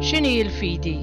X'inhi l-fidi?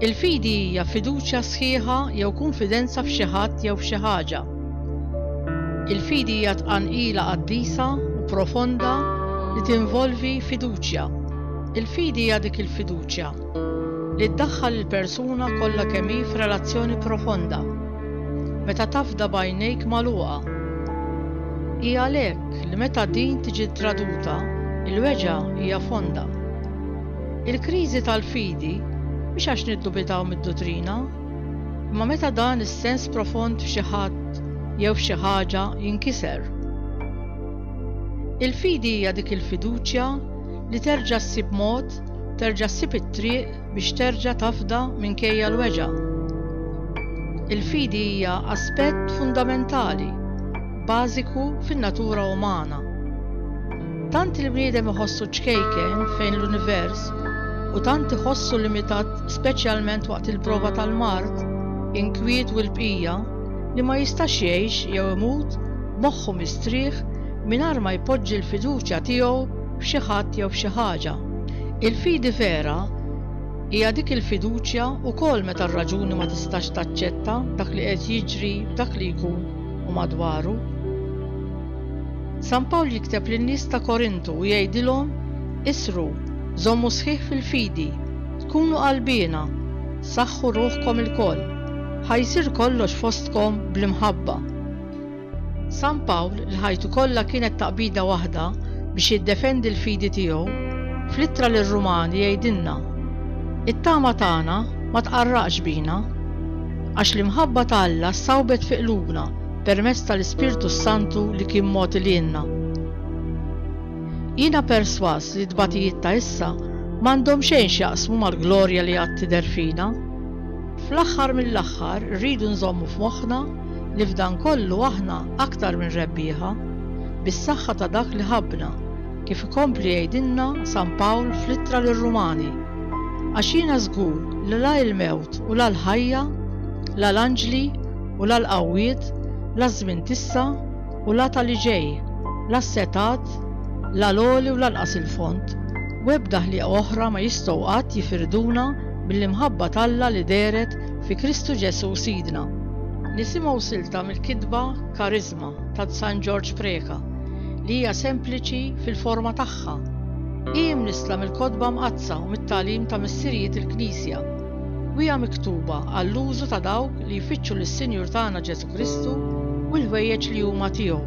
Il-fidi hija fiduċja sħiħa jew kunfidenza f'xi ħadd jew f'xi ħaġa. Il-fidi hija tqanqila qaddisa u profonda li tinvolvi fiduċja. Il-fidi hija dik il-fiduċja li ddaħħal il-persuna kollha kemm hi f'relazzjoni profonda. meta tafda b'għajnejk magħluqa. Hi għalhekk li meta din tiġi traduta, il-weġgħa hija fonda. Il-kriżi tal-fidi mhix għax niddubitaw mid-duttrina, imma meta dan is-sens profond f'xi ħadd jew f'xi ħaġa jinkiser. Il-fidi hija dik il-fiduċja li terġa' ssib mod, terġa' ssib it-triq biex terġa' tafda minkejja l-weġgħa. Il-fidi hija aspett fundamentali, bażiku fin-natura umana. Tant il-bniedem iħossu ċkejken fejn l-univers u tant iħossu limitat speċjalment waqt il-prova tal-mard, inkwiet u l-bqija li ma jistax jgħix jew imut moħħu mistrieħ mingħajr ma jpoġġi l-fiduċja tiegħu f'xi ħadd jew f'xi ħaġa. Il-fidi vera hija dik il-fiduċja wkoll meta r-raġuni ma tistax taċċetta dak li qed jiġri f'dak li jkun u madwaru. San Pawl jikteb lin-nies ta' Korintu u jgħidilhom isru, żommu sħiħ fil-fidi, tkunu qalbiena, saħħu ruħkom ilkoll, ħa jsir kollox fostkom bl-imħabba. San Pawl, li ħajtu kollha kienet taqbida waħda biex jiddefendi l-fidi tiegħu, fl-ittra lir-Rumani jgħidilna, It-tama tagħna ma tqarraqx bina, għax l-imħabba ta' Alla ssawbet fi qlubna permezz tal-Ispirtu s-Santu li kien mogħti lilna. Jiena persważ li t-tbatijiet ta' issa m'għandhom xejn x'jaqsmu mal-glorja li għad tidher fina. Fl-aħħar mill-aħħar rridu nżommu f'moħħna li f'dan kollu aħna aktar minn rebbieħa, bis-saħħa ta' dak li ħabbna, kif ikompli jgħidilna San Pawl fl-Ittra lir-Rumani. Għax jiena żgur li la l-mewt u la l-ħajja, la l-anġli u la l-qawwiet, la ż-żmien t'issa u la ta' li ġej, la s-setgħat, la l-għoli u lanqas il-fond, u ebda ħliqa oħra ma jistgħu qatt jifirduna mill-imħabba t'Alla li dehret fi Kristu Ġesù Sidna. Nisimgħu silta mill-kitba Kariżma ta' San Ġorġ Preca li hija sempliċi fil-forma tagħha. Hi mnissla mill-Kotba Mqaddsa u mit-tagħlim ta' Missirijiet il-Knisja u hija miktuba għall-użu ta' dawk li jfittxu lis-Sinjur tagħna Ġesù Kristu u l-ħwejjeġ li huma tiegħu.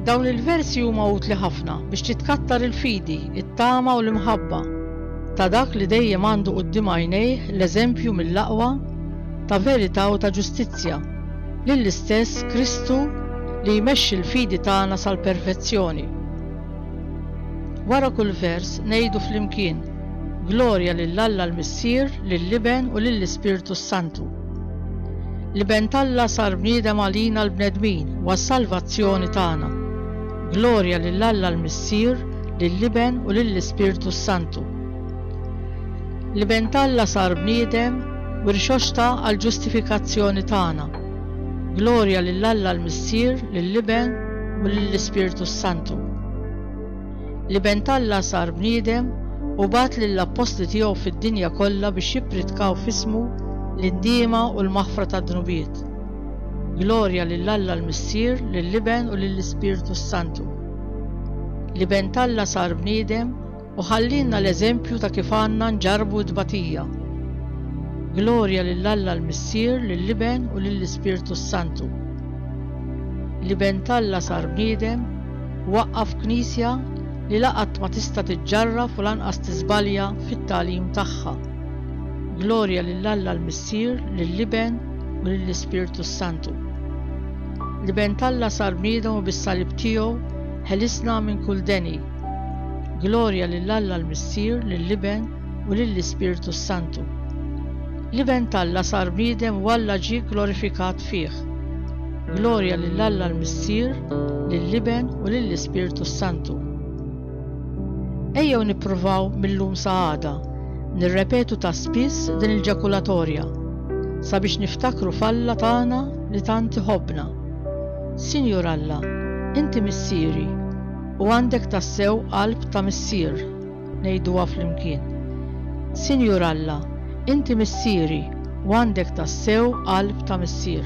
Dawn il-versi huma utli ħafna biex titkattar il-fidi, it-tama u l-imħabba. ta' dak li dejjem għandu quddiem għajnejh l-eżempju mill-aqwa ta' verità u ta' ġustizzja, lill-istess Kristu li jmexxi l-fidi tagħna sal-perfezzjoni. Wara kull vers ngħidu flimkien, Glorja lil Alla l-Missier, lill-Iben u lill-Ispirtu s-Santu. L-Iben t'Alla sar bniedem għalina l-bnedmin u għas-salvazzjoni tagħna. Glorja lil Alla l-Missier, lill-Iben u lill-Ispirtu s-Santu. L-Iben t'Alla sar bniedem u rxoxta għall-ġustifikazzjoni tagħna. Glorja lil Alla l-Missier, lill-Iben u lill-Ispirtu s-Santu. L-Iben t'Alla sar bniedem u bagħat lill-appostli tiegħu fid-dinja kollha biex jippritkaw f'ismu l-indiema u l-maħfra tad-dnubiet. Glorja lil Alla l-Missier, lill-Iben u lill-Ispirtu s-Santu. L-Iben t'Alla sar bniedem u ħallielna l-eżempju ta' kif għandna nġarrbu t-tbatija. Glorja lil Alla l-Missier, lill-Iben u lill-Ispirtu s-Santu. L-Iben t'Alla sar bniedem u waqqaf Knisja li la qatt ma tista' tiġġarraf u lanqas tiżbalja fit-tagħlim tagħha. Glorja lil Alla l-Missier, lill-Iben u lill-Ispirtu s-Santu. L-Iben t'Alla sar bniedem u bis-salib tiegħu ħelisna minn kull deni. Glorja lil Alla l-Missier, lill-Iben u lill-Ispirtu s-Santu. L-Iben t'Alla sar bniedem u Alla ġie glorifikat fih. Glorja lil Alla l-Missier, lill-Iben u lill-Ispirtu s-Santu. Ejjew nippruvaw mil-lum sa għada nirrepetu ta' spiss din il-ġakulatorja sabiex niftakru f'Alla tagħna li tant iħobbna. Sinjur Alla, Inti Missieri u għandek tassew qalb ta' missier, ngħiduha flimkien. Sinjur Alla, Inti Missieri u għandek tassew qalb ta' missier.